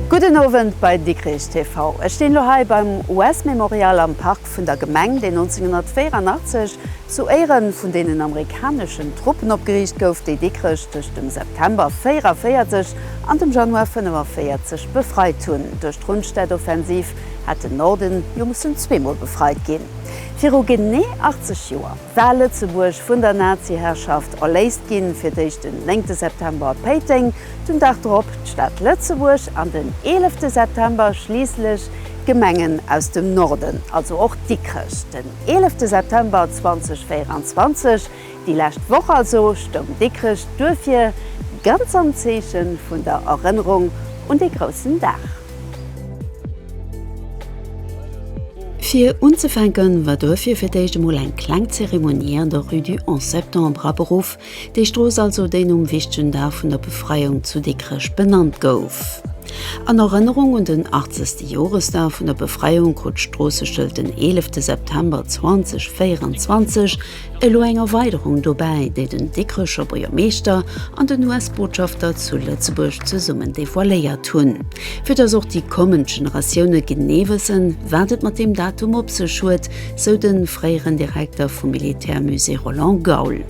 Gudden Owend bei Dikrich TV. Ech stinn elo hei beim US Memorial am Parc. Fest vun der Gemeng, deen 1984 zu Éiere vun deenen amerikaneschen Truppen opgeriicht gouf, déi Dikrech tëscht dem September 44 an dem Januar 45 befreit hunn. Duerch d'Rundstedt-Offensiv hat den Norden jo mussen zweemol befreit ginn. Viru genee 80 Joer war Lëtzebuerg vun der Nazi-Herrschaft erléist ginn, fir d'éischt den 9 September a Péiteng, Den Dag drop d'Stad Lëtzebuerg an den 11 de September schliisslech d'Gemengen aus dem Norden, also och Dikrech. Den 11 de September 2024, déi lescht Woch also, stoung Dikrech duerfir ganz am Zeeche vun der Erënnerung un dee groussen Dag. Fir unzefänke war duerfir fir d'éischt emol eng kleng Zeremonie an der Rue du 11 Septembre aberuff, Déi Strooss also, déi nom wichtegen Dag vun der Befreiung zu Dikrech benannt gouf. An Erënnerung un den 80. Joresdag vun der Befreiung krut d'Stroosseschild den 11 de September 2024 elo eng Erweiderung dobäi, déi den Dikrecher Buergermeeschter an den US-Botschafter zu Lëtzebuerg zesummen devoiléiert hunn, fir datt och déi kommend Generatioune genee wëssen, wat et mat deem Datum op sech huet, sou de fréieren Direkter vum Militärmusée Roland Gaul.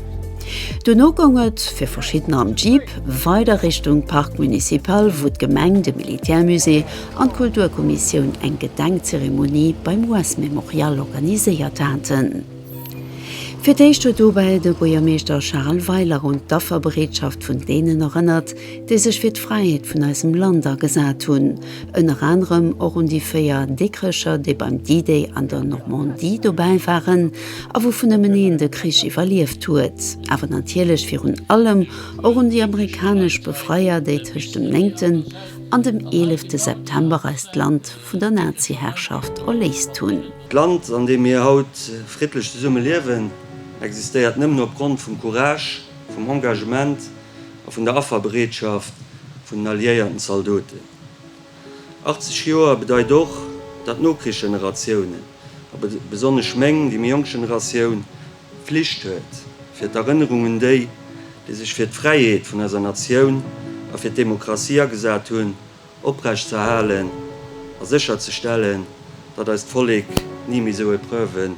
Dono goung et, fir verschiddener am Jeep, weider Richtung Parc Municipal, wou d'Gemeng, de Militärmusée an d'Kulturkommissioun eng Gedenkzeremonie beim US Memorial organiséiert haten. Fir d'éischt huet dobäi de Buergermeeschter Charel Weiler un d'Afferbereetschaft vun deenen erënnert, déi sech fir d'Fräiheet vun eisem Land agesat hunn, ënner anerem och un déi véier Dikrecher, déi beim D-Day an der Normandie dobäi waren a wouvun nëmmen een de Krich iwwerlieft huet, awer natierlech virun allem och un déi amerikanesch Befreier, déi tëscht dem néngten an dem eelefte September eist Land vun der Naziherrschaft erléist hunn. D'Land, an deem mir haut friddlech zesumme liewen, existéiert nëmmen opgrond vum Courage, vum Engagement, a vun der Afferbereetschaft vun den alliéierten Zaldoten. 80 Joer bedeit och, datt d'Nokrichsgeneratiounen, a besonnesch meng, déi méi jonk Generatioun, d'Flicht huet, fir d'Erënnerung un déi, déi sech fir d'Fräiheet vun eiser Natioun a fir d'Demokratie agesat hunn, oprechtzerhalen a sécherzestellen, datt eist Vollek ni méi sou Epreuve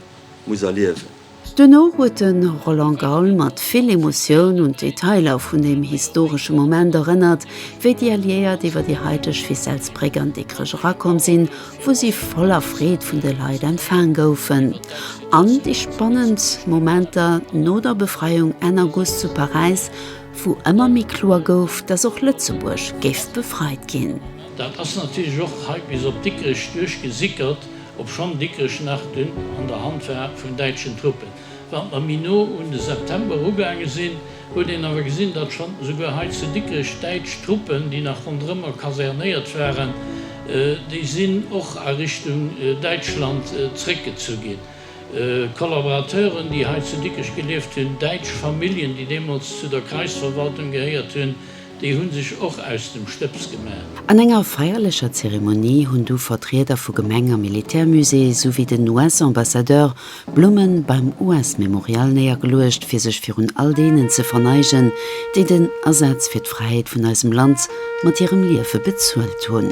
muss erliewen. Duerno huet de Roland Gaul mat vill Emotioun un d'Detailer vun deem historesche Moment erënnert, wéi déi Alliéiert iwwer déi haiteg Ficelles-Bréck an Dikrech erakomm sinn, wou si voller Freed vun de Leit empfaang goufen, an déi spannend Momenter no der Befreiung Enn August zu Paräis, wou ëmmer méi kloer gouf, dass och Lëtzebuerg géif befreit ginn. Dat ass natierlech och hei bis op Dikrech duerchgesickert Obschonn Dikrech nach dunn an der Hand war vun däitschen Truppen, wat mer méi no un de September ugaange sinn, huet een awer gesinn, datt schonn esouguer hei zu Dikrech däitsch Truppen, déi nach ronderëmmer kasernéiert waren, déi sinn och a Richtung Däitschland zréckgezu ginn. Kollaborateuren, déi hei zu Dikrech gelieft hunn, däitsch Familljen, déi deemools zu der Kreisverwaltung gehéiert hunn, Déi hunn sech och aus dem Stëbs gemaach. An enger feierlecher Zeremonie hunn du Vertrieder vu Gemeng a Militärmusée souwéi den US-Ambassadeur Blummen beim US-Memorial néiergeluecht fir sech virun all deenen ze verneigen, déi den Asaz fir d'Fräiheet vun eisem Land mat hirem Liewe bezuelt hunn.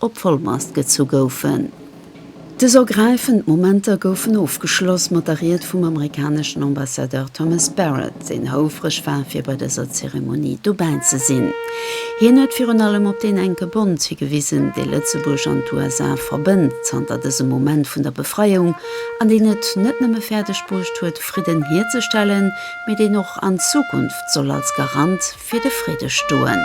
op Volmast gezu goufen. Dës ergräifend Momenter goufen ofgeschloss mat der Ried vum amerikaneschen Ambassadeur Thomas Barrett, deen houfreg war fir bei dëser Zeremonie dobäi ze sinn. Hien huet virun allem op deen enke Bond higewisen, dee Lëtzebuerg an d'USA verbënnt zanter dësem Moment vun der Befreiung, an deen et net nëmme fäerdeg bruecht huet Fridden hierzestellen, mee deen och an Zukunft soll als Garant fir de Fridde stoen.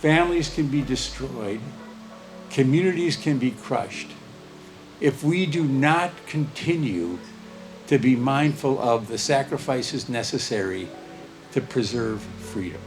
Families can be destroyed, communities can be crushed if we do not continue to be mindful of the sacrifices necessary to preserve freedom.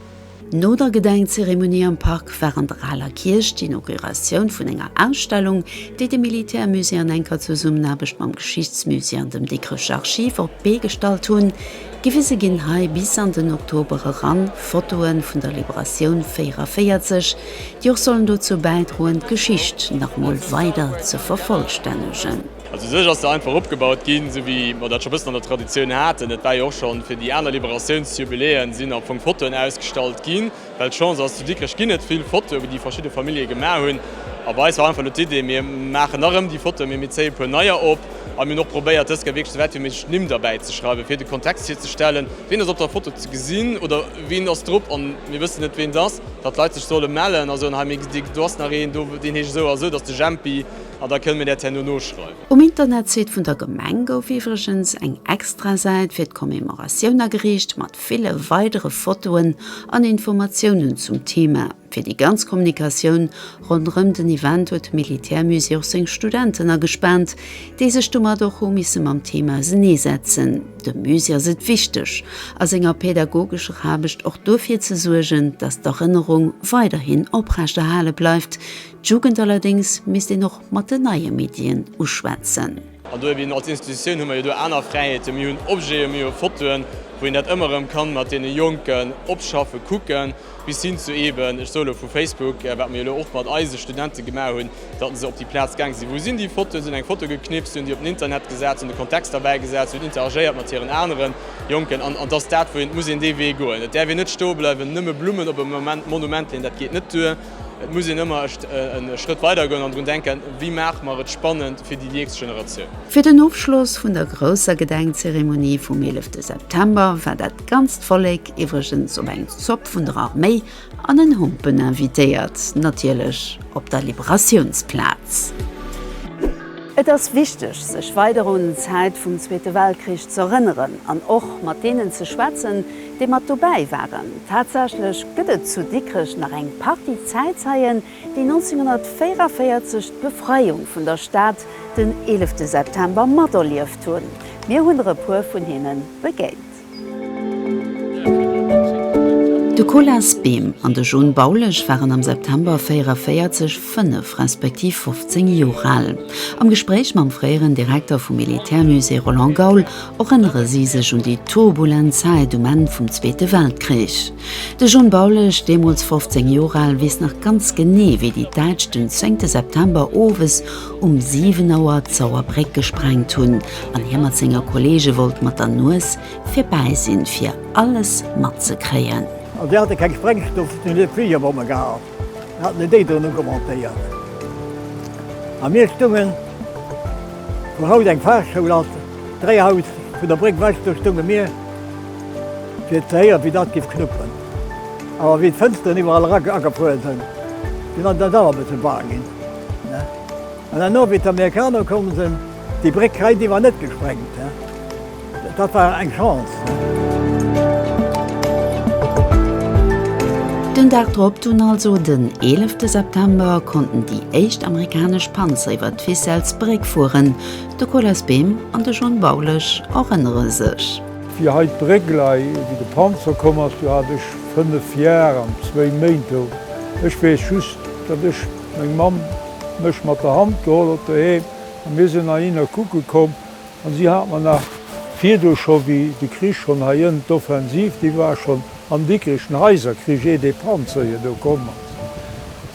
No der Gedenkzeremonie am Park war an der Aler Kierch d'Inauguratioun vun enger Ausstellung, déi de Militärmusée an enker Zesummenaarbecht mam Geschichtsmusée an dem Dikrecher Archiv op d'Bee gestallt hunn. Gewise ginn hei bis an den Oktober eran Fotoe vun der Liberatioun 44, déi och sollen dozou bäidroen, d'Geschicht nach emol weider ze vervollstännegen. Also u sech ass se einfach opgebaut ginn, esou wéi mer dat scho e bëssen an der Traditioun haten. Et war jo och schonn fir déi aner Liberatiounsjubiläen, sinn am Fong Fotoen ausgestallt ginn. Well d'Chance ass, zu Dikrech ginn et vill Fotoe déi verschidde Famillje gemaach hunn. A bei eis war einfach elo d'Idee, mir maachen nach erëm déi Fotoe, mee mir zéie e puer neier op. A mir hunn och probéiert dës Kéier wierklech sou wäit wéi méiglech d'Nimm derbäi ze schreiwen, fir de Kontext virzestellen, wien ass op der Foto ze gesinn oder wien ass drop an mir wëssen net ween et ass, datt d'Leit sech solle mellen a soen, hei mee gesi do ass nach een, deen heescht esou a esou, dat ass de Jempi an da kënne mir dat herno noschreiwen. Um Internetsite vun der Gemeng gouf iwwregens eng Extrasäit fir d'Commemoratioun ageriicht, Ville weidere Fotoen an Informatiounen zum Thema. Fir déi ganz Kommunikatioun ronderëm den Event huet d'Militärmusée och seng Studenten agespaant, déi sech domat och hu misse mam Thema ausenee setzen. Dem Musée ass et wichteg, a senger pädagogescher Aarbecht och duerfir ze suergen, datt d'Erënnerung weiderhin oprecht erhale bleift. D'Jugend allerdéngs misst een och mat den neie Medien uschwätzen. An do eben als Institutioun hu mer jo do aner Fräiheeten. Mir hunn Objeten, mir hu Fotoen, wou een dat ëmmer erëm ka mat deene Jonken opschaffen, kucken, bis hin zu eben, ech soe elo, vu Facebook, wat mer jo elo och mat eise Studente gemaach hunn, datt se op déi Plaz gaange sinn, Wou sinn déi Fotoen? Si hunn eng Foto geknipst, si hunn déi op den Internet gesat, si hunn de Kontext derbäi gesat, si hunn interagéiert mat hiren anere Jonken. An et ass dat, wou een et muss een dee Wee goen. Et däerf een net stoe bleiwen, nëmme Blummen op e Monument leen, dat geet net duer. Et muss een ëmmer echt e Schrëtt weider goen an drun denken, wéi maache mer et spannend fir déi nächst Generatioun. Fir den Ofschloss vun der grousser Gedenkzeremonie vum 11 September war dat ganzt Vollek iwwregens op eng Zopp vun der Arméi an en Humpen invitéiert, natierlech op der Liberatiounsplaz. Et ass wichteg, sech weider un d'Zäit vum Zweete Weltkrich z'erënneren an och mat deenen ze schwätzen, déi mat dobäi waren. Tatsächlech gëtt et zu Dikrech nach eng Partie Zäitzeien, déi 1944 d'Befreiung vun der Stad, den 11 September, materlieft hunn. Mir hunn der e puer vun hinne begéint. De Colas Behm an de John Baulesch waren am September 1944 fënnef respektiv 15 Joer al. Am Gespréich mam fréieren Direkter vum Militärmusée Roland Gaul, erënnere si sech un déi turbulent Zäit um Enn vum Zweete Weltkrich. De John Baulisch, deemools 15 Joer al, weess nach ganz genee, wéi déi Däitsch den zéngte September owes um siwen Auer d'Sauerbréck gesprengt hunn an hie mat senge Kolleege wollt mat der Nues virbäi sinn, fir alles matzekréien. An si hate keng Sprengstoff, si hunn net Fligerbomme gehat. Haten déi déi dono commentéiert a mir stungen, wou haut eng Fachschoul ass, dräi Haus vun der Bréck wech, do stunge mir fir ze héieren, wéi dat géif knuppen. Awer wéi d'Fënsteren iwwerall era agefuer sinn, sinn eis dat awer e bësse baang ginn. An dann no, wéi d'Amerikaner komm sinn, Déi Bréck hei, déi war net gesprengt. Dat war eng Chance. Den Dag drop, dunn also den 11. September, konnten déi éischt amerikanesch Panzer iwwer d'Ficelles-Bréck fueren. De Colas Behm an de John Baulesch erënnere sech. Fir hei d'Bréck lei, wéi de Panzer komm ass, do hat ech fënnef Jar an zwéi Méint do. Ech weess just, datt ech, meng Mamm mech mat der Hand geholl huet doheem A mir sinn heihinner kucke komm, an si hat mer nach virdu scho, wéi de Krich schonn hei ënn, d'Offensiv, déi war schonn am Dikkregen Haiserkrich, ier dee Panzer hir do komm ass,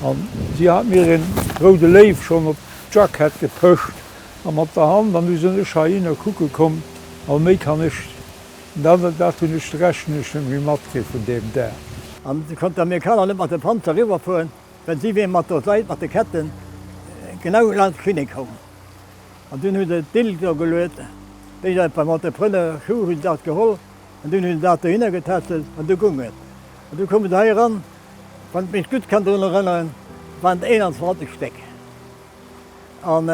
an si hat mir een Roude Léiw schonn op d'Jackett gepëscht, a mat der Hand, an du sinn ech heihinner kucke komm, a méi kann ech, dat, dat hunn ech, d'Rechnunge net méi matkritt vun deem Dag. An du konnt d'Amerikaner net mat de Panzer riwwerfueren. Well si wier mat der Seit, mat de Ketten, genau lanscht d'Klinik komm. An dunn hu se d'Bild do geluet, wéi se et beim Entrepreneur Schuh hu se dat geholl an dunn hu se dat dohinner getätschelt an du gung et. An du koume se hei eran, wann ech mech gutt kann drun erënneren, waren et 21 Stéck. An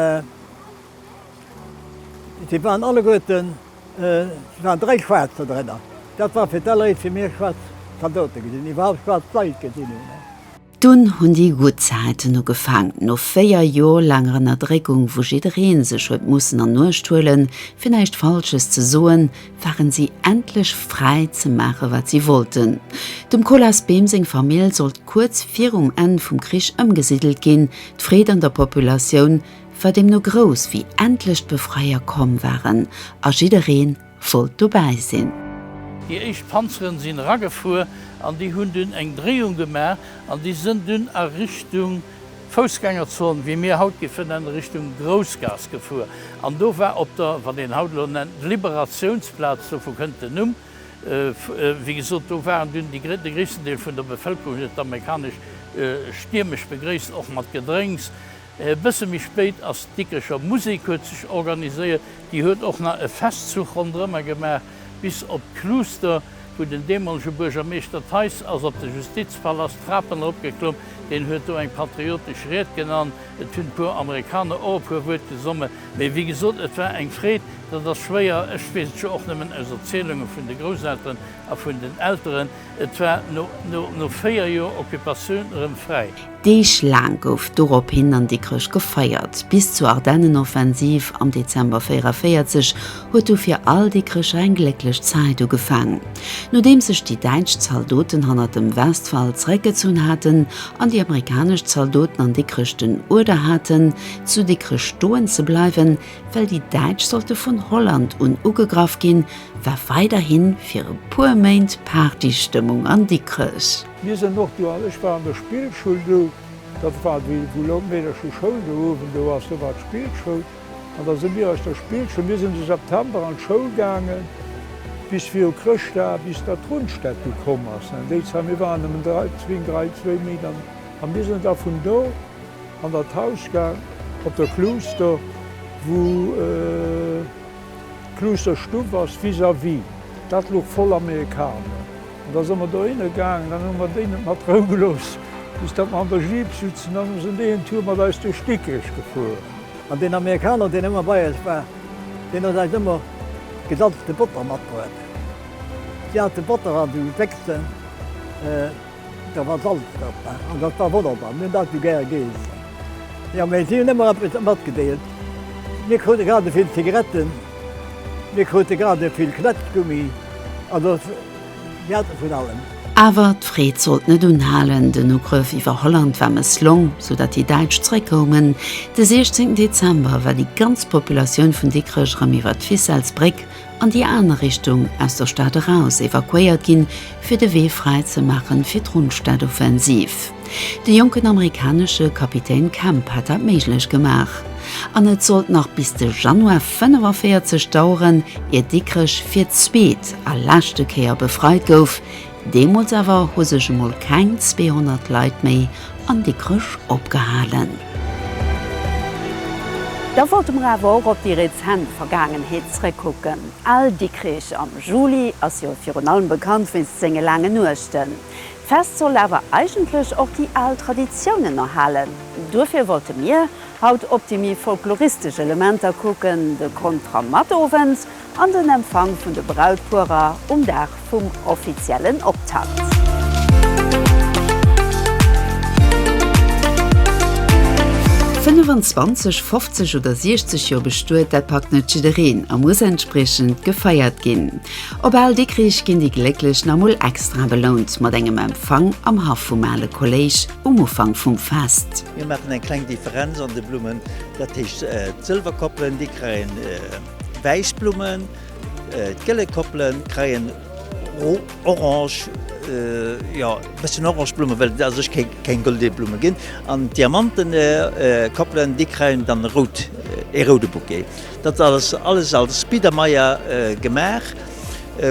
si waren alleguerten, et waren dräi Schwaarz do drënner. Dat war fir d'alleréischt fir mir schwaarz Zaldote gesinn, déi iwwerhaapt schwaarz Leit gesinn hunn. Dunn hunn déi gutt Zäiten ugefaangen. No véier Jor laanger Ënnerdréckung, wou jiddereen sech huet mussen an Uecht huelen, fir näischt Falsches ze soen, waren si endlech fräi ze maachen, wat si wollten. Dem Colas Behm seng Famill sollt kuerz virum Enn vum Krich ëmgesiddelt ginn. D'Freed an der Populatioun war deemno grouss, wéi endlech d'Befreier komm waren a jiddereen, wollt dobäi sinn. Déi éischt Panzeren sinn eragefuer an déi hunn dunn eng Dréiung gemaach an déi sënn dunn a Richtung Foussgängerzon, wéi mir haut géife nennen, Richtung Groussgaass gefuer. An do war op der, wat een haut elo nennt, Liberatiounsplaz, dovu kënnt den Numm, wéi gesot, do waren dunn déi, de gréissten Deel vun der Bevëlkerung huet d'amerikanesch stiermesch begréisst, och mat Gedrénks. E bësse méi spéit ass d'Dikricher Musek huet sech organiséiert. Déi huet och nach e Festzuch ronderëmmer gemaach bis op d'Kluuster, wou den deemolege Buergermeeschter Theis ass op de Justizpalast d'Trapen erop geklomm. Deen huet do eng patriotesch Ried gen an et hunn e puer Amerikaner och e puer Wuert gesomme. Mee wéi gesot, et war eng Freed. Dat ass schwéier, ech weess et jo och nëmmen aus Erzielunge vun de Grousselteren a vun den Elteren. Et war no véier Joer Occupatioun erëm fräi. Deeg laang gouf dorophin an Dikrech gefeiert. Bis zur Ardennenoffensiv am Dezember 44 huet du fir all Dikrecher eng glécklech Zäit ugefaang. Nodeems sech déi däitsch Zaldoten hannert dem Westwall zeréckgezunn haten an déi amerikanesch Zaldoten an Dikrech den Uerder haten, zu Dikrech stoen ze bleiwen, Well déi Däitsch sollte vun Holland un ugegraff ginn, war weiderhi fir e puer Méint Partystëmmung an Dikrech. Mir sinn och do, ech war an der Spillschoul do, dat war déi, wou laut Meedercher Schoul do uewen do ass, do war d'Spillschoul, an da si mir aus der Spillschoul, mir sinn de September an d'Schoul gaange bis viru Chrëschtdag, bis da d'Rundstad du komm ass. An déi Zäit, mir waren nëmmen dräi, zwéin, dräi, zwéi Méint, an mir sinn da vun do, An der Tauschka op der Kluuster, wou d'Kluusterstuff ass, vis-à-vis, dat luch voll Amerikaner. An da se mer dohinner gaangen, dann hu mer déi net mat Rou gelooss, bis datt mer an der Jeep sutzen. Dann hu se déi en Tour mat eis duerch Dikrech gefuer. An deen Amerikaner, deen ëmmer bei eis war, deen huet eis ëmmer gesalzte Botter matbruet. Si hate Botter an de Béchsen. Do war Salz drop an dat war wonnerbar. Mir hunn dat esou gär geessen. Jo, mä si hunn ëmmer eppes matgedeelt. Mir krute grad esouvill Zigaretten, mir krute grad esouvill Knätschgummi, also mir hate vun allem. Awer d'Freed sollt net unhalen. Den Ugrëff iwwer Holland war mësslong, sou datt déi Däitsch zeréckkoumen. De 16 Dezember war déi ganz Populatioun vun Dikrech erëm iwwer d'Ficelles-Bréck an déi aner Richtung aus der Stad eraus evakuéiert ginn, fir de Wee fräi ze maachen fir d'Rundstad-Offensiv. De jonken amerikanesche Kapitän Kemp hat dat méiglech gemaach. An et sollt nach bis de Januar 45 daueren, ier Dikrech fir d'zweet a leschte Kéier befreit gouf, Deemools awer hu sech emol keng 200 Leit méi an Dikrech opgehalen. Da wollte mer awer och op déi rezent Vergaangenheet zrëckkucken. Al Dikrech am Juli ass jo virun allem bekannt wéinst senge laangen Nuechten. D'Fest soll awer eigentlech och déi al Traditiounen erhalen. Duerfir wollte mir haut op déi méi folkloristesch Elementer kucken, de Kontra Matowend, an den Empfang vun de Brautpuerer um Dag vum offiziellen Optakt. Fënnefanzwanzeg, fofzeg oder siechzeg Joer bestuet, dat packt net jiddereen a muss entspriechend gefeiert ginn. Op Al Dikrich ginn déi Glécklech nach mol extra belount mat engem Empfang am Haff vum ale Kolléisch um Ufank vum Fest. Mir maachen eng kleng Differenz an de Blummen, dat heescht d'Sëlwerkoppelen, déi kréien. Wäissblummen, d'gëlle Koppelen kreien orange, jo bëssen orange Blummen, well et asech keng gëlle Blummen ginn, an d'Diamanten Koppelen déi kreien dann rout, ee roude Bouquet. Dat ass alles als Biedermeier gemaach,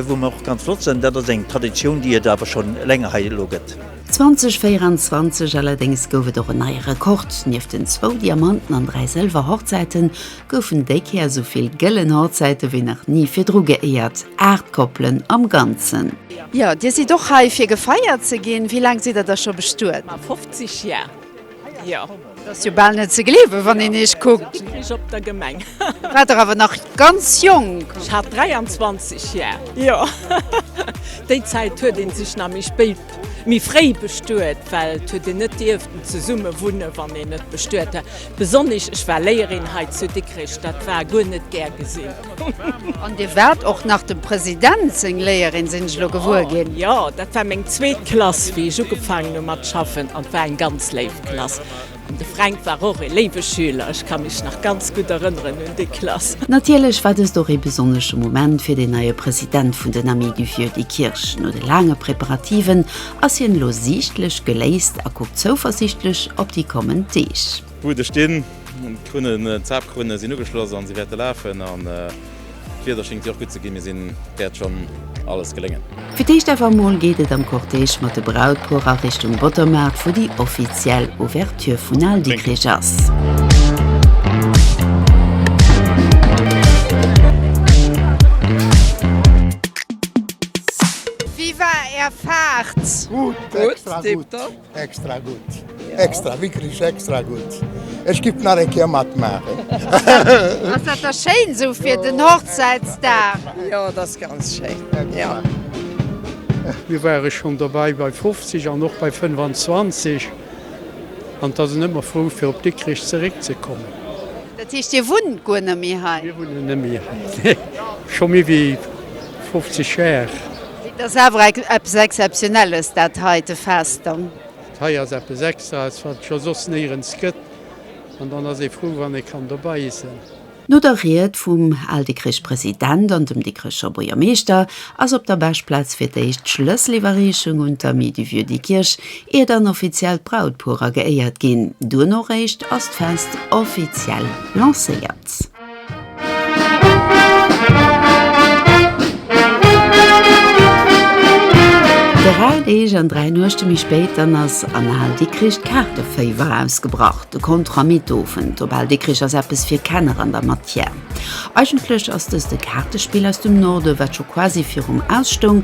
wou mer och ganz flott sënn. Dat ass eng Traditioun déi et awer schonn länger hei elo gëtt. 2024 allerdéngs gouf et och en neie Rekord, nieft den zwou Diamanten an dräi Sëlwer Hochzäiten, goufen déi Kéier esou vill gëllen Hochzäite wéi nach ni virdru geéiert, aacht Koppelen am Ganzen. Jo, Dir sidd och hei, fir gefeiert ze ginn. Wéi laang sidd Der da scho bestuet? Ma 50 Jar, jo. Dat ass jo bal net ze gleewen, wann een Iech kuckt. Ech krich op der Gemeng. Da waart Der awer nach ganz jonk. Ech hat 23 Jar, jo. Déi Zäit huet ee sech nach méi spéit. Méi fréi bestuet, well et huet een net dierften zesumme wunne wann een net bestuet hat. Besonnesch ech war Léierin hei zu Dikrech, dat war guer net gär gesinn. An Dir waart och nach dem President seng Léierin, sinn ech elo gewuer ginn. Jo, dat war meng zweet Klass wéi ech ugefaangen hu mat schaffen an et war eng ganz léif Klass. De Fränk war och ee léiwe Schüler, ech ka mech nach ganz gutt erënneren un déi Klass. Natierlech war dëst och ee besonnesche Moment fir den neie President vun den Amis du Vieux Diekirch. No de laange Preparativen ass hien elo siichtlech geléist a kuckt zouversiichtlech op déi kommend Deeg. D'Buede stinn, d'Krunnen, d'Zapkrunnen sinn ugeschloss a si wäerte lafen. D'Wieder schingt jo och gudd ze gin, mir sin wärt schon alles geléngen. Fir d'éischt awer emol geet et am Cortège mat de Brautpuer a Richtung Bottermaart, wou déi offiziell Ouverture vun Al Dikkrich ass. Wéi war är Fahrt? Gutt, extra gutt. Extra gudd! Extra! Wikkrich extra gudd! Ech giff nach eng Kéier matmaachen! Ass dat da schéin esou fir den Hochzäitsdag? Jo, et ass ganz schéin, jo. Mir ware schonn dobäi bei 50 an och bei 25 an da sinn ëmmer frou fir op Dikrich zeréckzekommen. Dat heescht Dir wunnt guer net méi hei? Mir wunnen net méi hei, nee, scho méi wéi 50 Jar. Et ass awer eppes Exzeptionelles, dat heite Fest dann. Dat hei ass eppes Extraes, wat et scho soss néierens gëtt. An dann ass ee frou, wann ee kann dobei iessen. No der Ried vum Al-Dikricher President an dem Dikricher Buergermeeschter ass op der Beschplaz fir d'éischt d'Schlësseliwwerreechung un d'Amis du Vieux Dikkirch, ier dann offiziell d'Brautpuerer geéiert ginn. Duerno réischt ass d'Fest offiziell lancéiert. Dräi Deeg an dräi Nuechte méi spéit, dann ass an Al Dikkrich d'Kaarteféiwer ausgebrach, de Kontramittowend op Al Dikkrich ass eppes fir Kenner an der Matière. Eigentlech ass dëst e Kaartespill aus dem Norde, wat scho quasi virum Ausstoung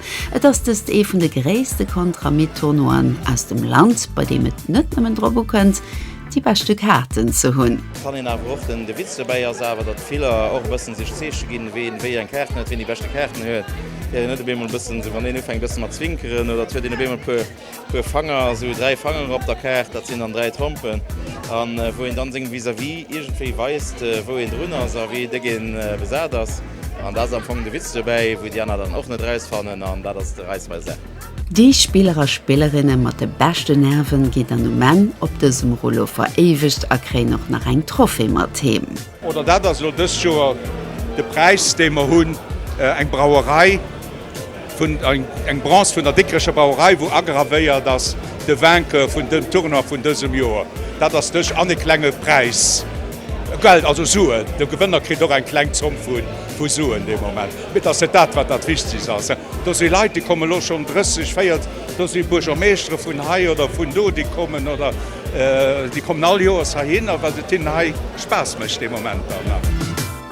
Et ass dëst ee vun de gréisste Kontramitt-Tournoien aus dem Land, bei deem et net nëmmen drop ukënnt, déi beschte Kaarten ze hunn. Kann een awer och. Den Witz dobäi ass awer, datt vill och e bëssen sech Zeeche ginn, ween wéi eng Kaarten huet, ween déi beschte Kaarten huet. Gëtt een net op eemol e bëssen, wann een ufänkt e bësse mat zwinkeren oder et huet een op eemol e puer, Puer Fanger, esou 3 Fanger op der Kaart, dat sinn dann 3 Trompen, an wou een dann sengem Vis-à-vis iergendwéi weist, wou een drun ass a wéi déck een besat ass. An dat ass am Fong de Witz dobäi, wou déi aner dann och net rausfannen, an dat ass de Reiss beim Sack. Déi Spiller a Spillerinne mat de beschte Nerven ginn dann um Enn op dësem Rouleau veréiwegt a kréien och nach eng Trophée mat heem. Oder dat ass elo dëst Joer de Präis, dee mer hunn, eng Brauerei. Eng Bronze vun der Dikkrecher Brauerei, wou agravéiert ass, De Vainqueur vun dem Tournoi vun dësem Joer, dat ass dech, an e klenge Präis, Geld, also Suen, de Gewënner kritt och eng kleng Zomm vu Suen dee Moment. Mee et ass net dat, wat dat Wichtegst ass. Do si Leit, déi kommen elo schonn 30, 40, do si Buergermeeschtere vun hei oder vun do, déi kommen, oder déi kommen all Joers heihinner, well et hinnen hei Spaass mécht dee Moment.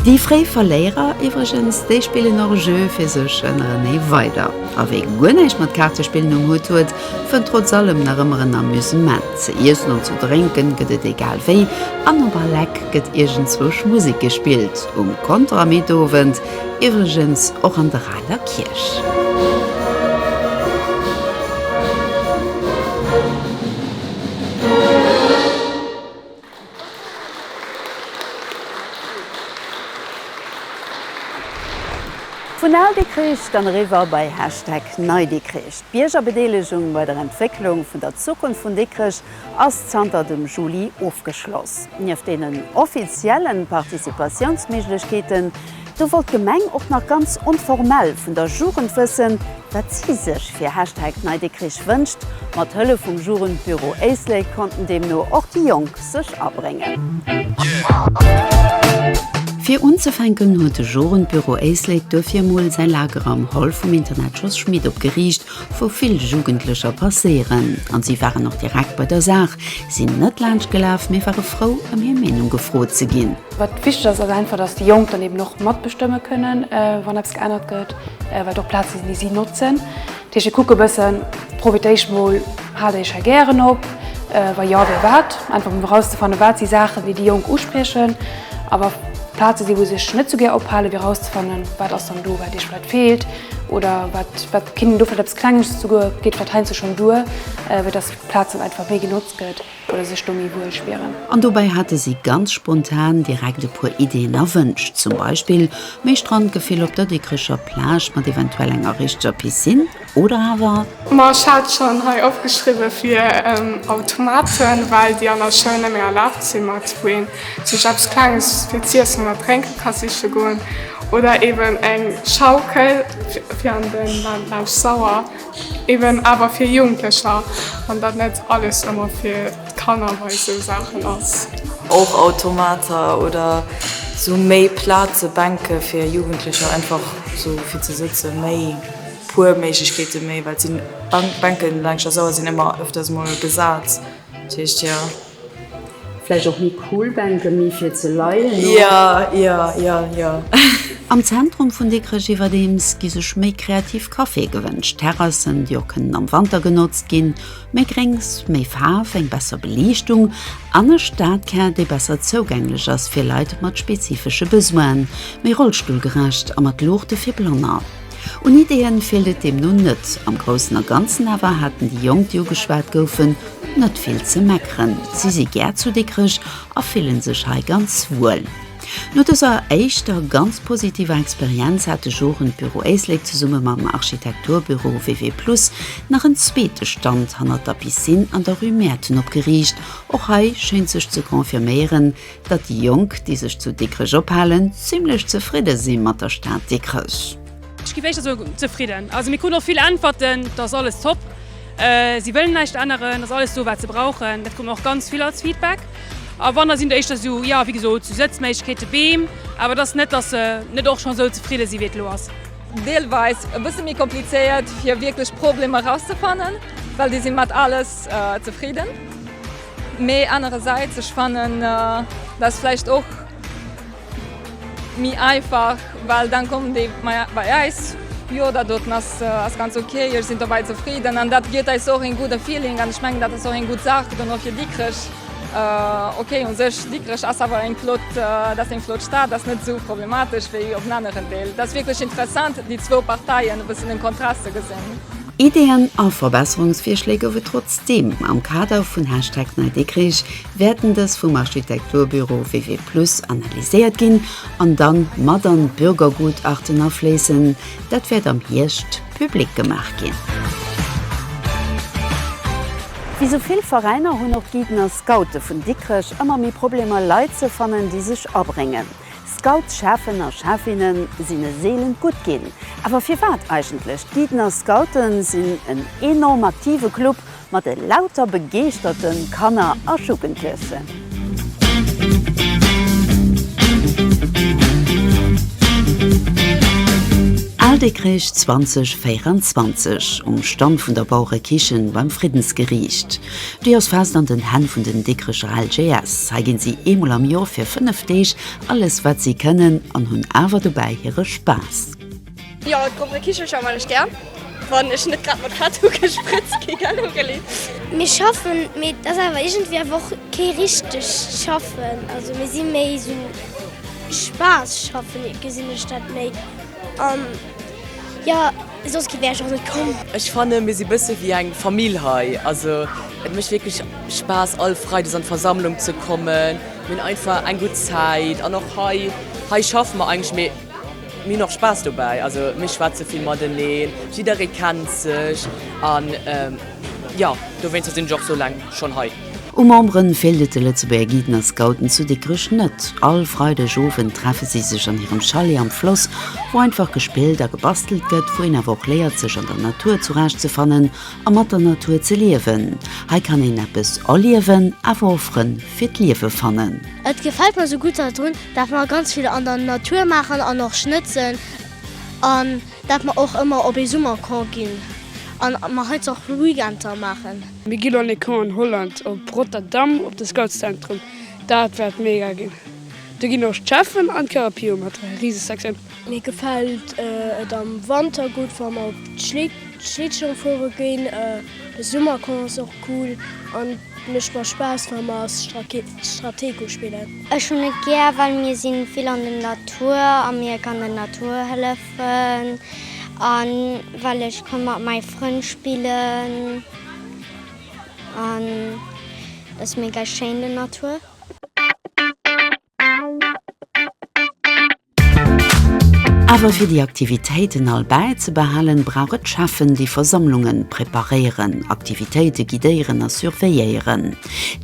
Déi fréi Verléierer iwwregens, déi spillen och e Jeu fir sech ënnerenee weider. A wee guer näischt mat Kaartespillen um Hutt huet, fënnt trotz allem nach ëmmer en Amusement. Ze iessen an ze drénken gëtt et egal wéi, an op all Eck gëtt iergendzwousch Musek gespillt, um Konter am Meetowend iwwregens och an der aler Kierch. Vun Al Dikrich dann eriwwer bei Hashtag Nei Dikrich. D'Biergerbedeelegung bei der Entwécklung vun der Zukunft vun Dikrech ass zanter dem Juli ofgeschloss. Nieft deenen offiziellen Participatiounsméiglechkeeten, Do wollt d'Gemeng och nach ganz onformell vun der Jugend wëssen, wat si sech fir Hashtag NeiDikrich wënscht. Mat Hëllef vum Jugendbüro Éislek konnten deemno och déi Jonk sech abréngen. Fir unzefänken huet de Jugendbüro Éislek duerfir emol säi Lager am Hall vum Internat Jos Schmit opgeriicht, wou vill Jugendlecher passéieren. An si waren och direkt bei der Saach, sinn net laanscht gelaf, mee ware frou, ëm hir Meenung gefrot ze ginn. Wat wichteg ass, ass einfach, dass déi Jonk dann eben och matbestëmme kënnen, wann eppes geännert gëtt, well et och Plaze sinn, déi si notzen. Dat heescht, ech kucke e bëssen, Profité ech mol, hale ech hei gären op? Wa jo, wéi wat? Einfach, fir erauszefannen, Wat si Saachen, déi déi Jonk uspriechen? A wa Plaze sinn, wou se sech net esou gär ophalen, fir erauszefannen, Wat ass dann do, wat Iech vläicht feelt? Oder wat kéint een do vläicht eppes Klenges, souguer geet vläicht heiansdo schonn duer, fir dass d'Plaz dann einfach méi genotzt gëtt? Oder sech do méi wuel spieren. An dobäi hate si ganz spontan direkt e puer Ideeën a Wënsch. Zum Beispill méi Strandgefill op der Dikrecher Plage mat eventuell enger richteger Piscine. Oder awer. Ma ech hat schonn hei opgeschriwwe fir Automaten, well déi an der Schoul net méi erlaabt sinn, mat wou een sech eppes Klenges fir z'iessen oder drénke ka siche goen. Oder eeben eng Schaukel fir an de Bausch Sauer. Eben awer fir Jugendlecher, an datt net alles ëmmer fir d'Kanner bei esou Saachen ass. Och Automater oder sou méi Plaze, Bänke fir Jugendlecher einfach sou fir ze sëtzen, méi puer Méiglechkeete méi, well sinn Bänken laanscht der Sauer sinn ëmmer ëfters mol besat, dat heescht jo. Vläicht och méi cool Bänke méi fir ze leien, oder? Am Zentrum vun Dikrech iwwerdeems gi sech méi kreativ Caféë gewënscht, Terrassen, déi och kënnen am Wanter genotzt ginn, méi Gréngs, méi Faarf, eng besser Beliichtung an e Stadkär, dee besser zougänglech ass fir Leit mat spezifesche Besoinen, méi rollstullgerecht a mat Luuchte fir Blanner. Un Ideeën feelt et deemno net. Am Groussen a Ganzen awer haten déi Jonk, déi ugeschwat goufen, net vill ze meckeren. Si si gär zu Dikrech a fillen sech hei ganz wuel. No dëser éischter ganz positiver Experienz hat de Jugendbüro Éislek zesumme mam Architekturbüro WW Plus nach en zweete Stand hannert der Piscine an der Rue Mäerten opgeriicht. Och hei schéint sech ze confirméieren, datt déi Jonk, déi sech zu Dikrech ophalen, zimlech zefridde si mat der Stad Dikrech. Ech ginn éischter sou zefridden. Also mir kruten och vill Äntwerten, et ass alles top, si wëllen näischt änneren, et ass alles do wat se brauchen. Dat krut mer och ganz vill als Feedback. Awunner sinn et éischter sou, jo wéi gesot, sou Sëtzméiglechkeeten, Beem, awer et ass net, datt se net och schonn sou zefridde si wéi et elo ass. Deelweis e bësse méi komplizéiert fir wierklech Problemer erauszefannen, well déi si mat alles zefridden. Mee anerersäits, ech fannen dat vläicht och méi einfach, well dann kommen déi bei eis, jo dat doten ass ganz ok, ech sinn dobäi zefridden an dat gëtt eis och en gudde Feeling an ech mengen dat ass och eng gutt Saach dann och fir Dikrech. Ok u sech Dikrech ass awer eng flott, dat ass eng flott Stad, ass net esou problematesch wéi op en aneren Deel. Dat ass wierklech interessant déi zwou Parteien e bëssen den Kontrast ze gesinn. Ideeën a Verbesserungsvirschléi gouf et trotzdeem. Am Kader vun Hashtag NeiDikrich wäerten dës vum Architekturbüro WW Plus analyséiert ginn an dann mat an d'Bürgergutachten afléissen. Dat wäert am Hierscht public gemaach ginn. Wéi sou vill Veräiner hunn och d'Guiden a Scoute vun Dikrech ëmmer méi Problemer Leit ze fannen, déi sech abréngen. Scoutschafen a schäfinne sinn e seelent Gutt ginn. Awer firwat eigentlech? D'Giedner Scoute sinn en enorm aktive Club mat e lauter begeeschterte Kanner a Jugendlechen. Al Dikrech 2024 um Stand vun der Baurekichen beim Friddensgeriicht. Déi ass fest an den Hänn vun den Dikricher LGS. Hei ginn si eemol am Jor fir 5 Deeg alles wat si kënnen an hunn awer dobäi hire Spaass. Jo, d'Gruppe Kichelcher man ech gär, wann ech net grad mat Tattoo gesprëtzt gi gell. Mir schaffen, mee et ass awer iergendwéi awer och kee richtegt Schaffen, also mir si méi esou Spaass schaffen, gesinn ech dat méi an. Jo, soss wär ech och net komm. Ech fannen mir si bësse wéi eng Famill hei. Also et mécht wierklech Spaass all Freides an d'Versammlung ze kommen. Mir hunn einfach eng gutt Zäit an och hei hei schaffe mer eigentlech mee mir hunn och Spaass dobäi. Also mir schwätze vill mateneen, jidderee kennt sech an. Jo, dowéinster sinn ech och sou laang schonn hei. U Memberen feelt et de Lëtzebuerger Guiden a Scouten zu Dikrech net. All Freideg Owend treffe si sech an hirem Chalet am Floss, wou einfach gespillt a gebastelt gëtt, wou een awer och léiert sech an der Natur zurecht ze fannen a mat der Natur ze liewen. Hei kann een eppes erliewen, awer och Frënn fir d'Liewe fannen. Et gefält mer sou gutt hei drun, dat mer ganz vill an der Natur maachen an och schnëtzen an. Dat mer och ëmmer op ee Summercamp ginn an mer heizou och Weekender maachen. Mir ginn an ee Camp an Holland, op Rotterdam, op de Scoutszentrum. Dat wäert mega ginn. Do ginn och d'Cheffen an d'CaraPio mat Risesacksen. Mir gefält et am Wanter gutt, wa mer op Schlittschong fuere ginn. De Summercamp ass och cool an et mécht mer Spaass, wa mer Stratego spillen. Ech hunn et gär well mir sinn vill an den Natur a mir kann den Natur hëllefen an well ech kann mat mäi Frënn spillen an ass mega schéin den Natur. Awer fir déi Aktivitéiten all bäizebehalen, brauch et Cheffen, déi Versammlunge preparéieren, Aktivitéite guidéieren a surveilléieren.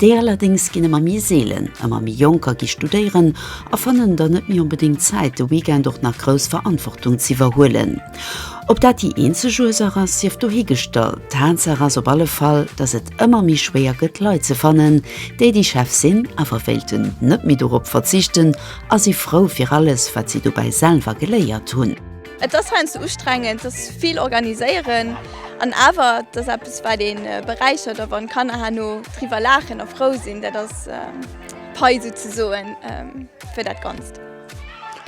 Déi allerdéngs ginn ëmmer méi seelen. Ëmmer méi Jonker gi studéieren a fannen dann net méi onbedéngt Zäit, de Weekend och nach grouss Verantwortung z'iwwerhuelen. Ob dat déi eenzeg Ursaach ass, sief dohigestallt, Tatsaach ass op alle Fall, dass et ëmmer méi schwéier gëtt, Leit ze fannen, déi déi Chef sinn, awer wéilten net méi dorop verzichten A si frou fir alles, wat si dobäi selwer geléiert hunn. Et ass heiansdo ustrengend, et ass vill organiséieren an awer et ass eppes, wat ee beräichert. A wann d'Kanner herno driwwer laachen a frou sinn, dat ass d'Pai souzesoen fir dat Ganzt.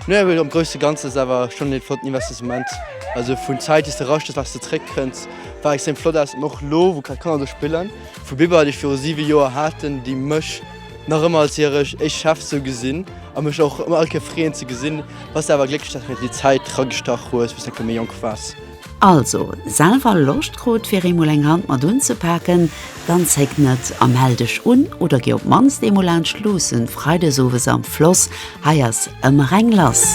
No awer am grousse Ganzen ass et awer schonn ee flotten Investissement, also vun Zäit, déi s de raschtes, wat s de zréckkënns, wat extrem flott ass. An och elo, wou grad d'Kanner do spillen, vu Bibber, déi ech viru siwe Joer haten, déi mech, Nach ëmmer als hirech éischt Chef sou gesinn a mech och ëmmer all Kéier freeën ze gesinn. Bass awer glécklech dass mir déi Zäit ragestach hues wou s de e puer méi jonk waars. Also selwer Loscht krut fir eemol eng Hand mat unzepaken? Dann zéck net a mell dech un oder gi op d'mannst eemol laanscht Luussen Freidesowes am Floss Hei ass ëmmer eng lass.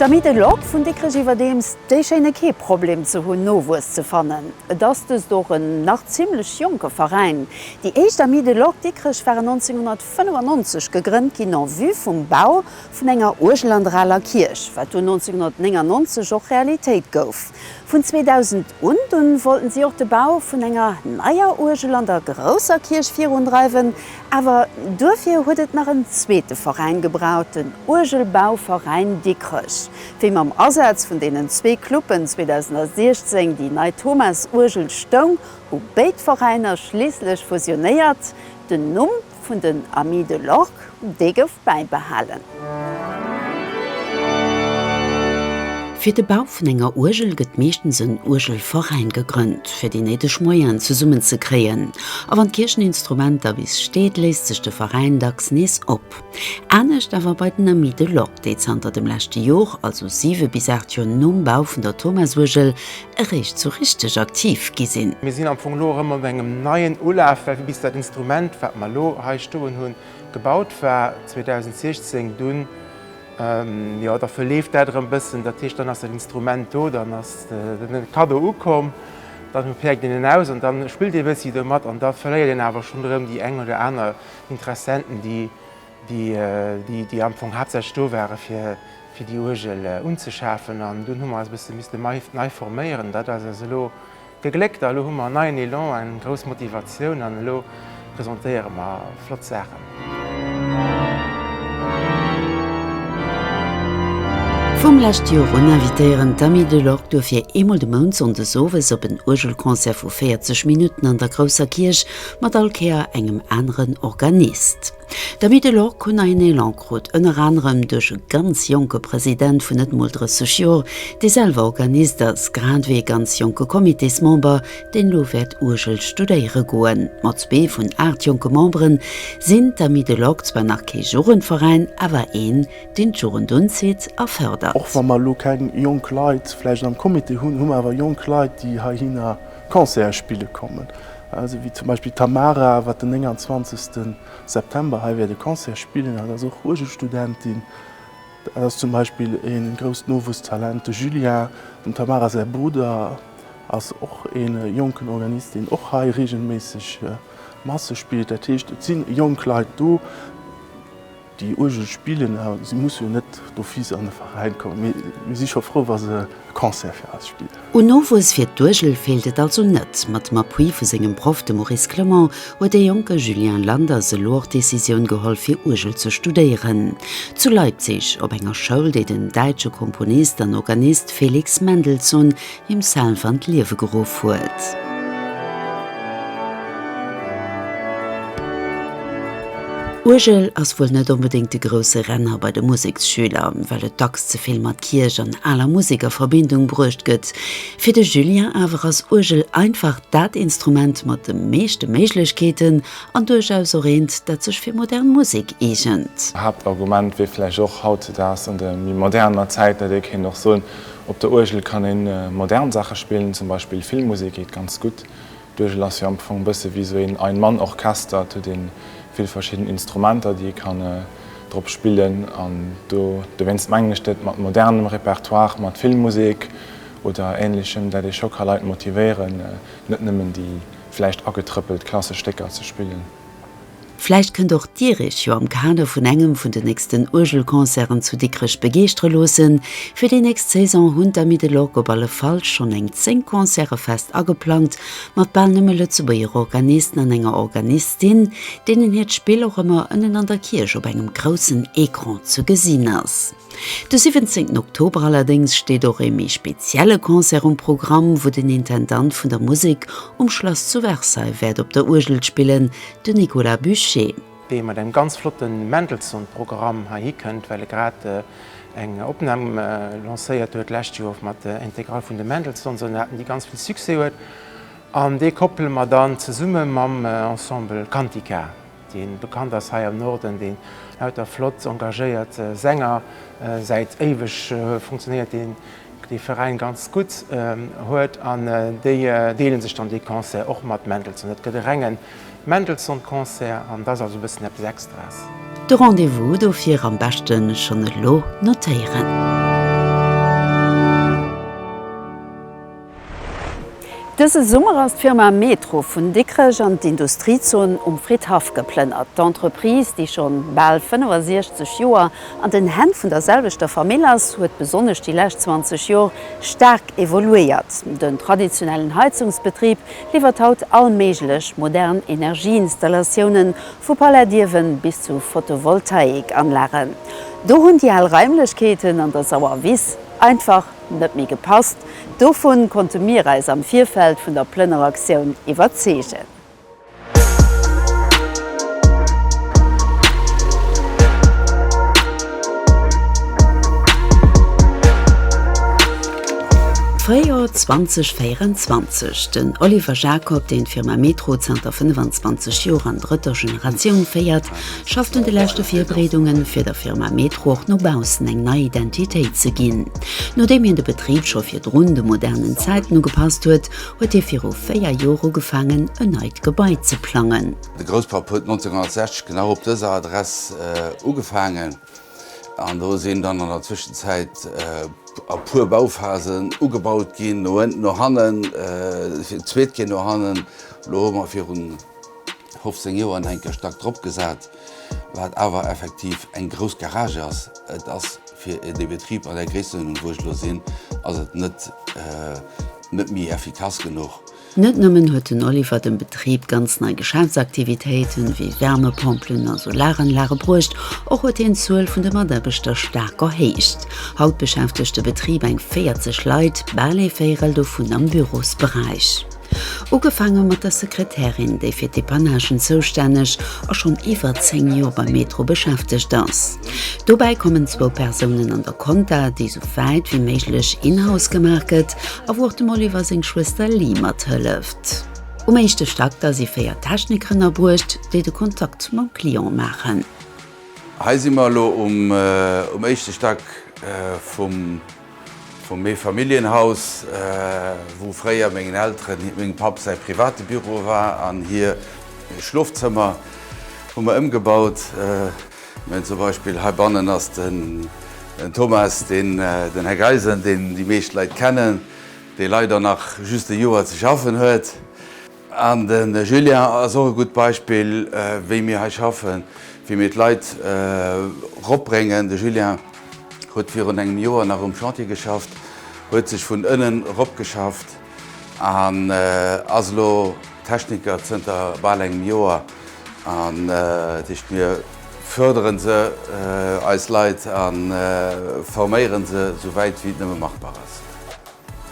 D'Amy Dellock vun Dikrech iwwerdeems déi schéine kee Problem ze hunn Nowuess ze fannen. Et ass dëst och en nach zimmlech jonke Veräin. Déi éischt Amis de Lock Dikrech waren 1995 gegrënnt ginn en vue vum Bau vun enger Uergelandraler Kierch, wat dunn 1999 och Realitéit gouf. Vun 2000 un dunn wollten si och de Bau vun enger neier Uergelander grousser Kierch virundreiwen, awer duerfir huet et nach en zweete Veräin gebraucht, den Uergelbauveräin Dikrech, wéi mam Asaz vun deenen zwee Cluben 2016 déi nei Thomas-Uergel stoung, hu béid Veräiner schliisslech fusionéiert, den Numm. vun den Amis de l'Orgue, dee gouf bäibehalen. Fir de Bau vun enger Uergel gëtt meeschtens en Uergelveräin gegrënnt, fir déi néideg Moyenen zesummen ze kréien. A wann d'Kiercheninstrumenter bis steet, léist sech de Veräin dacks nees op. Anescht awer bei den Amis de l'Orgue, déi zanter dem leschte Jor, also siwe bis aacht Jor nom Bau vun der Thomasuergel, eréischt sou richteg aktiv gi sinn. Mir sinn am Fong elo erëm op engem neien Ulaf, well bis dat Instrument, wat mer elo hei stoen hunn, gebaut war, 2016, dunn, jo, da verleeft dat erëm e bëssen. Dat heescht, dann ass dat Instrument do, dann ass de Kaddo ukomm, dann päerkt een en aus an da spillt ee e bëssi domat an da verléiert een awer schonn erëm déi eng oder aner Interessenten, déi, déi am Fong haaptsächlech do ware fir déi Uergel unzeschafen an dunn hu mer eis e bësse misste nei forméieren. Dat ass eis elo gegléckt a elo hu mer en neien Elan, eng grouss Motivatioun an elo presentéiere mer flott Saachen. Vum lescht Joer un invitéieren d'Amis de l'Orgue duerfir eemol de Mount sonndes owes op en Uergelconcert vu 40 Minutten an der grousser Kierch mat all Kéier engem aneren Organist. D'Amis de l'Orgue hunn neien Elan krut, ënner anerem duerch e ganz jonke President vun net mol 30 Joer, dee selwer Organist ass, grad ewéi e ganz jonke Comitésmember, deen elo wäert Uergel studéiere goen. Mat zwee vun aacht jonke Membere sinn d'Amis de l'Orgue zwar nach kee Jugendveräin, awer een, deen d'Jugend unzitt a fërdert. Och wa mer elo keng jonk Leit vläicht am Comité hunn, hu mer awer jonk Leit, déi heihinner Concerte spille kommen. Esou wéi zum Beispill d'Tamara, wat den 29 September hei wäert e Concert spillen. Dat ass och Uergelstudentin. Dat ass zum Beispill e grousst Nowuesstalent, de Julien. Dem Tamara säi Brudder ass och e jonken Organist, deen och hei reegelméisseg Masse spillt. Dat heescht, et si jonk Leit do. Déi Uergel spillen, a si musse jo net d'office an e Veräin kommen, mee mir si scho frou, wa se e Concert fir eis spillen. Un Nowuess fir d'Uergel feelt et also net. Mat dem Appui vu sengem Proff, dem Maurice Clement, huet dee jonke Julien Landers elo och d'Decisioun geholl, fir Uergel ze studéieren. Zu Leipzig, op enger Schoul, déi den däitsche Komponist an Organist Felix Mendelssohn himself an d'Liewe geruff huet. Uergel ass wuel net onbedéngt de grousse Renner bei de Museksschüler, well et dacks ze vill mat Kierch an aler Musek a Verbindung bruecht gëtt. Fir de Julien awer ass Uergel einfach dat Instrument mat de meeschte Méiglechkeeten an duerchaus och eent, dat sech fir modern Musek eegent. Haaptargument wier vläicht och hautzedags an der méi moderner Zäit, dat ee kéint och soen, Op der Uergel kann ee modern Saache spillen, zum Beispill Filmmusek geet ganz gutt. D'Uergel ass jo am Fong bësse wéi esou een Ein-Mann-Orchester. Et huet ee vill verschidden Instrumenter, déi ee kann drop spillen an do dowéinst mengen ech dat mat modernem Repertoire, mat Filmmusek oder Ähnlechem, dat ee scho ka Leit motivéieren, net nëmmen déi vläicht agetrëppelt klassesch Stécker ze spillen. Vläicht kënnt och Dir Iech jo am Kader vun engem vun den nächsten Uergelconcerten zu Dikrech begeeschtere loossen. Fir déi nächst Saison hunn d'Amis de l'Orgue op alle Fall schonn eng 10 Concerte fest ageplangt, mat bal nëmme Lëtzebuerger Organisten an enger Organistin, deenen hiert Spill och ëmmer ënnen an der Kierch op engem groussen Ecran ze gesinn ass. De 17 Oktober allerdéngs steet och ee méi spezielle Concert um Programm, wou den Intendant vun der Musek um Schlass zu Versailles wäert op der Uergel spillen, de Nicolas Bucher. dee mat engem ganz flotte Mendelssohn-Programm heihi kënnt, well e grad eng Opnam lancéiert huet d'lescht Joer mat der Integrale vun de Mendelssohn-Sonaten, déi ganz vill Succès huet. An dee koppele mer dann zesumme mam Ensemble Cantica. dee bekannt ass hei am Norden, dee lauter flott engagéiert Sänger, säit éiweg funktionéiert dee Veräin ganz gutt, huet an déi deele sech dann dee Concert och mat Mendelssohn. Et gëtt e renge Mendelssohn Concert an et ass also e bëssen eppes Extras. De Rendez-vous dofir am beschte schonn elo notéieren. Dëse Summer ass d'Firma Metro vun Dikrech an d'Industriezon Um Fridhaff geplënnert. D'Entreprise, déi schonn bal 65 Joer an den Hänn vun der selwechter Famill ass, huet besonnesch déi lescht 20 Jor staark evoluéiert. Den traditionellen Heizungsbetrib liwwert haut all méiglech modern Energieinstallatioune vu Palaiddiewe bis zu Photovoltaikanlagen. Do hunn déi al Raimlechkeeten an der Sauer Wiss einfach Net méi gepasst. Dovun konnte mir eis am Virfeld vun der Plënneraktioun iwwerzeegen. Fréijoer 2024, Den Oliver Jacob, deen d'Firma Metro zanter 25 Joer an drëtter Generatioun féiert, schafft un de leschte Virbereedungen, fir der Firma Metro och no baussen eng nei Identitéit ze ginn. Nodeem hien de Betrib scho virdrun de modernen Zäiten ugepasst huet, huet hie viru véier Joer ugefaangen, en neit Gebai ze plangen. De Grousspapp huet 1960 genau op dëser Adress ugefaangen an do sinn dann an der Zwëschenzäit e puer Bauphasen ugebaut ginn, no ënnt, no hannen, fir d'zweet Kéier no hannen. Elo hu mer virun 15 Joer an enke Stack drop gesat, wat awer effektiv eng grouss Garage ass. Et ass fir de Betrib an der Gréisstennuerdnung wou ech lo sinn, ass et net net méi effikass genuch. Net nëmmen huet den Oliver dem Betrib ganz nei Geschäftsaktivitéiten, wéi Wärmepompelen a Solaranlage bruecht, och huet hien d'Zuel vun de Mataarbechter staark erhéicht. Haut beschäftegt de Betrib eng 40 Leit, bal ee Véirel dovun am Bürosberäich. Ugefaange mat der Sekretärin, déi fir d'Depannagen zoustänneg a schonn iwwer 10 Joer beim Metro beschäftegt ass. Dobäi kommen zwou Persounen an der Compta, déi esou wäit wéi méiglech in-house gemaach gëtt a wou och de Molliver seng Schwëster Lee mathëlleft. Um éischte Stack da si véier Techniker ënnerbruecht, déi de Kontakt mam Client maachen. Hei si mer elo um éischte Stack vum. Vum Meefamilljenhaus, wou fréier mengen Elteren, mengem Papp säi private Büro war an hir Schlofzëmmer, hu mer ëmgebaut. Zum Beispill heibannen ass den Thomas, deen den Här Geisen, deen déi meescht Leit kennen, dee leider nach just e Joer ze schaffen huet. An de Julien ass och e gutt Beispill, wéi mir hei schaffen, wéi mir d'Leit eropbréngen. De Julien huet virun engem Joer nach um Chantier geschafft, huet sech vun ënnen eropgeschafft an ass elo Techniker zënter bal engem Joer. An dat heescht, mir fördere se, eis Leit, a forméiere se esou wäit, wéi et nëmme machbar ass.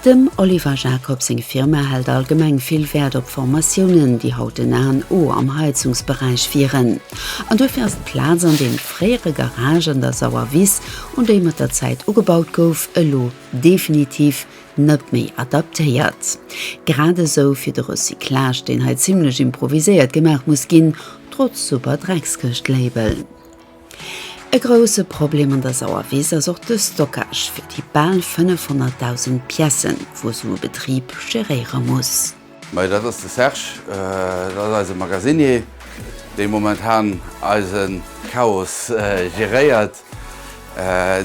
Dem Oliver Jacob seng Firma hält allgemeng vill Wäert op Formatiounen, déi haut den A an O am Heizungsberäich wieren. An duerfir ass d'Plaz an deem fréiere Garage an der Sauer Wiss, un déi mat der Zäit ugebaut gouf, elo definitiv net méi adaptéiert. Grad esou fir de Recyclage, deen hei zimmlech improviséiert gemaach muss ginn, trotz super Dreckskëscht-Label. E grousse Problem an der Sauerwiss ass och de Stockage fir déi bal 500.000 Piècen, wou esou e Betrib geréiere muss. Mä dat ass de Serge, dat ass eise Magasinier, dee momentan eise Chaos geréiert.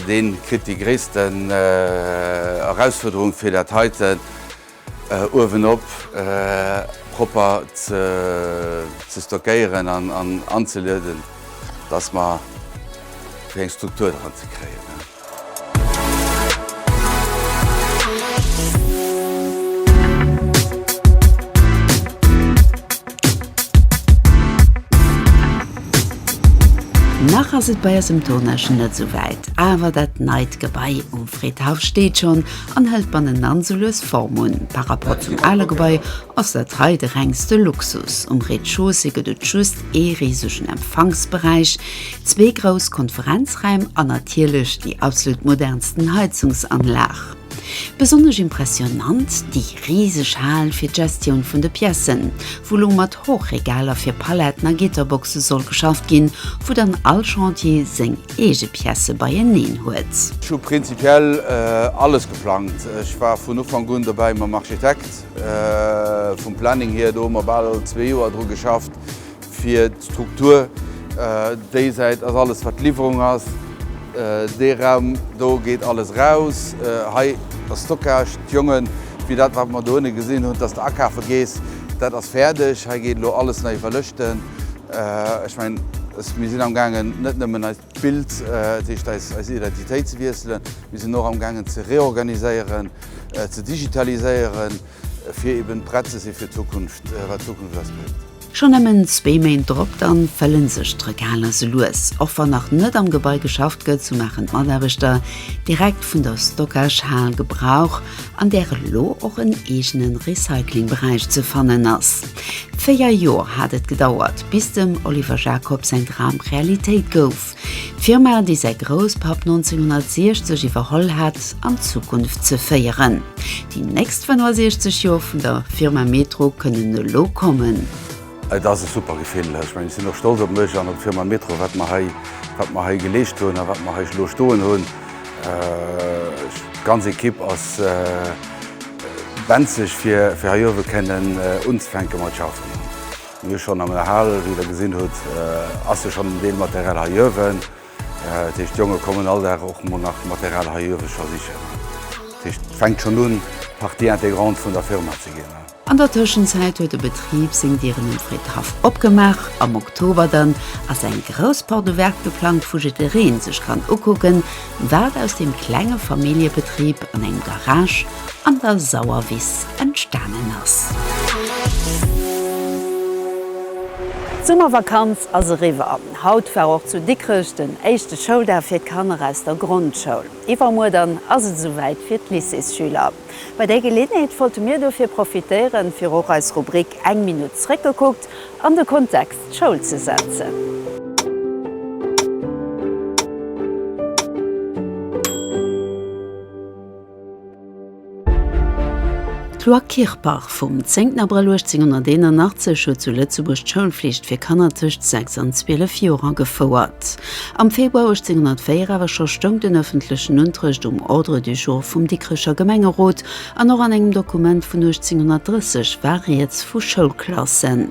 Dee kritt déi gréissten Erausfuerderung fir dat heiten. Uewenop propper ze stockéieren an anzelueden, dass mer fir eng Struktur dran ze kréien. Nach ass et bei eis um Tournagen net esou wäit, awer dat neit Gebai um Fridhaff steet schonn an hëlt bannenan sou lues Form un. Par rapport zum ale Gebai ass dat hei de rengste Luxus. Um Rez-de-chaussée gëtt et just ee risegen Empfangsberäich, zwee grouss Konferenzräim an natierlech déi absolut modernsten Heizungsanlag. Besonnesch impressionant déi riseg Hal fir d'Gestioun vun de Piècen, wou lo mat Hochregaler fir Paletten a Gitterboxe soll geschafft ginn, wou dann all Chantier seng. eege Piècë beieneen huet. Ech hu prinzipiell alles geplangt. Ech war vun Ufank un dobäi mam Architekt, vum Planning hier. Do hu mer bal zwee Joer dru geschafft, fir d'Struktur. Déi Säit ass alles, wat d'Liwwerung ass. Dee Raum do geet alles eraus. Hei ass Stockage. D'Jonge fir dat, wat mer dohinne gesinn hunn, dass de akafe gees, dat ass fäerdeg. Hei geet elo alles nei iwwerlëschten. Ech mengen, mir sinn amgaangen net nëmmen eist Bild, dat heescht eis Identitéit ze wiesselen, mir sinn och amgaangen ze reorganiséieren, ze digitaliséieren, fir eben prett ze si fir d'Zukunft, wat d'Zukunft eis bréngt. Schonn nëmmen zwee Méint drop, da fëlle sech d'Regaler selues. Och wann nach net am Gebai geschafft gëtt, sou maachen d'Mataarbechter direkt vun der Stockage-Hal Gebrauch. an där elo och en eegene Recyclingberäich ze fannen ass. Véier Joer hat et gedauert, bis dem Oliver Jacob säin Dram Realitéit gouf, d'Firma, déi säi Grousspapp 1960 iwwerholl hat, an d'Zukunft ze féieren. Déi nächst 65 Joer vun der Firma Metro kënnen elo kommen. Et ass e super Gefill. Ech mengen, ech sinn och stolz op mech an op d'Firma Metro, wat mer hei, wat mer hei geleescht hunn a wat mer hei elo stoen hunn. D'ganz Ekipp ass benzeg, fir, fir hei uewe kënnen unzefänke mat schaffen. Mir hu schonn an der Hal, wéi Der gesinn hutt, ass jo schonn en Deel Material hei uewen. Dat heescht, d'Jonge kommen all Dag och mol nach Material hei uewe scho sichen. Dat heescht, et fänkt schonn un, Partie intégrante vun der Firma ze ginn. An der Tëschenzäit huet de Betrib seng Dieren um Friddhaff opgemaach. Am Oktober dann ass eng grouss Porte ouverte geplangt, wou jiddereen sech kann ukucken, wat aus deem klenge Familljebetrib an engem Garage an der Sauerwiss entstanen ass. D'Summervakanz ass eriwwer. Haut war och zu Dikrech den éischte Schouldag fir d'Kanner aus der Grondschoul. Iwwermuer dann ass et esou wäit fir d'Lycéesschüler. Bei där Geleeënheet wollte mir dofir profitéieren, fir och eis Rubrik Eng Minutt zréckgekuckt an de Kontext Schoul ze setzen. D'Loi Kirpach vum 10 Abrëll 1881 huet zu Lëtzebuerg d'Schoulflicht fir Kanner tëscht 6 an 12 Joer agefouert. Am Februar 1804 awer scho stoung den ëffentlechen Unterrecht um Ordre du jour vum Dikrecher Gemengerot, an och an engem Dokument vun 1830 war rieds vu Schoulklassen.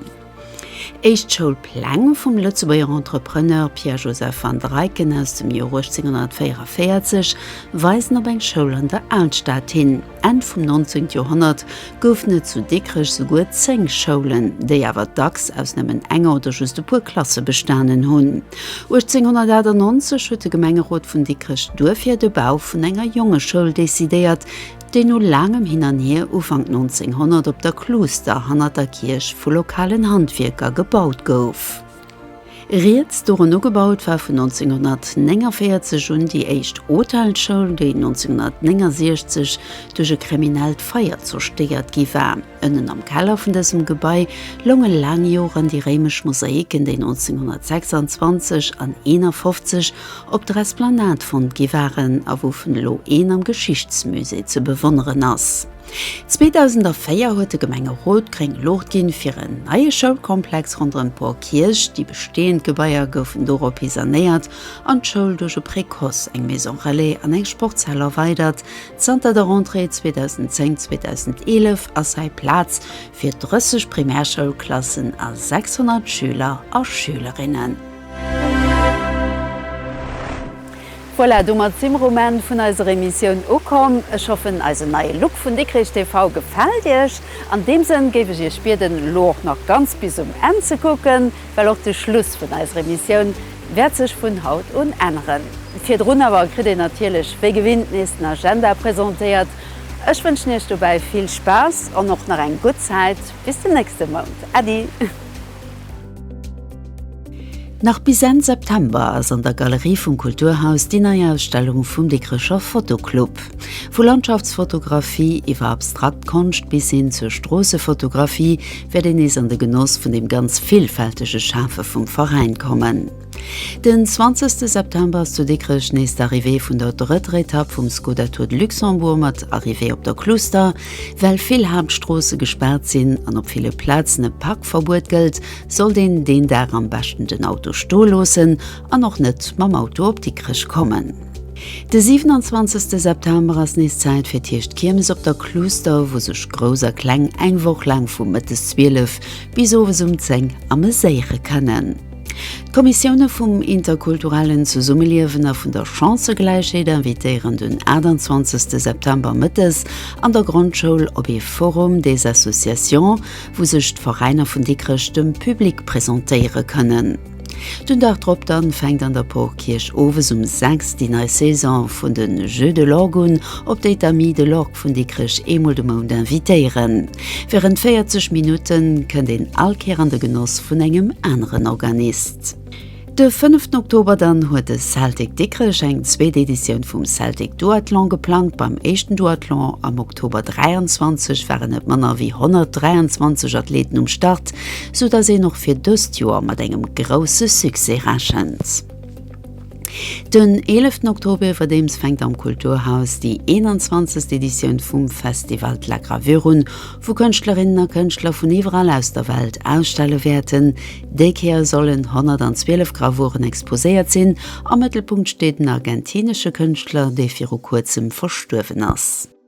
Éischt Schoulpläng vum Lëtzebuerger Entrepreneur Pierre Joseph van Dreiken aus dem Joer 1844 weisen op eng Schoul an der Alstad hin. Enn vum 19 Joerhonnert goufen et zu Dikrech souguer 10 Schoulen, déi awer dacks aus nëmmen enger oder just e puer Klasse bestanen hunn. 1898 huet de Gemengerot vun Dikrech duerfir de Bau vun enger Jongeschoul decidéiert, déi no laangem Hin an Hier Ufank 1900 op der Kluuster hannert der Kierch vu lokalen Handwierker gebaut gouf. Rieds dorun ugebaut war vun 1949 un déi éischt Hotelsschoul, déi 1969 duerch e kriminellt Feier zerstéiert gi war. Ënnen am Keller vun dësem Gebai lounge laang Joren déi réimesch Mosaiken, déi 1926 an 51 op der Esplanade fonnt gi waren a wouvun elo een am Geschichtsmusée ze bewonneren ass. 2004 huet de Gemengerot gréng Luucht ginn, fir en neie Schoulkomplex ronderëm d'Bour Kierch. Déi bestehend Gebaier goufen dorophi sanéiert an d'Schoul duerch e Précoce, eng Maison Relais an eng Sportshal erweidert. Zanter der Rentrée 2010, 2011 ass hei Plaz fir 30 Primärschoulklassen a 600 Schüler a Schülerinnen. Voilà, domat si mer um Enn vun eiser Emissioun ukomm. Ech hoffen, eisen neie Look vun Dikrech TV gefält Iech. An deem Sënn géif ech Iech bieden, elo och nach ganz bis um Enn ze kucken, well och de Schluss vun eiser Emissioun wäert sech vun haut un änneren. Virdrun awer kritt een natierlech wéi gewinnt nees den Agenda presentéiert. Ech wënschen Iech dobäi vill Spaass an och nach eng gutt Zäit bis den nächste Mount. Äddi! Nach bis Enn September ass an der Galerie vum Kulturhaus déi nei Ausstellung vum Dikrecher Fotoclub. Vu Landschaftsfotografie iwwer abstrakt Konscht bis hin zur Stroossefotografie wäert een nees an de Genoss vun dem ganz villfältege Schafe vum Veräin kommen. Den 20 September ass zu Dikrech nees d'Arrivée vun der drëtter Etapp vum Skoda Tour de Luxembourg mat Arrivée op der Cluster. Well vill Haaptstroosse gespaart sinn an op ville Plazen e Parkverbuet gëllt, sollt een deen Dag am beschten den Auto stoe loossen an och net mam Auto op Dikrech kommen. De 27 September ass nees Zäit fir d'éischt Kiermes op der Cluster, wou sech Grouss a Kleng eng Woch laang vu mëttes 12 bis owes um 10 ameséiere kënnen. D'Kommissioune vum interkulturellen Zesummeliewen a vun der Chancëgläichheet invitéieren den 28 September mëttes an der Grondschoul op ee Forum des associations, wou sech d'Veräiner vun Dikrech dem Public presentéiere kënnen. Den Dag drop dann fänkt an der Porkierch owes um 6 déi nei Saison vun de Jeux de l'Orgue un, op déi d'Amis de l'Orgue. Vun Dikrech eemol de Mount invitéieren. Wärend 40 Minutte kënnt een all Kéier an de Genoss vun engem aneren Organist. De fënneften Oktober dann huet de Celtic Dikrech eng zweet Editioun vum Celtic Duathlon geplangt. Beim éischten Duathlon am Oktober 23 waren net manner wéi 123 Athleten um Start, sou datt een och fir dëst Joer mat engem grousse Succès rechent. Den 11 Oktober iwwerdeems fänkt am Kulturhaus déi 21 Editioun vum Festival d'la Gravure un, wou Kënschtlerinnen a Kënschtler vun iwwerall aus der Welt ausstelle wäerten. Déi Kéier sollen 112 Gravuren exposéiert sinn. Am Mëttelpunkt steet en argentinesche Kënschtler, dee viru kuerzem verstuerwen ass.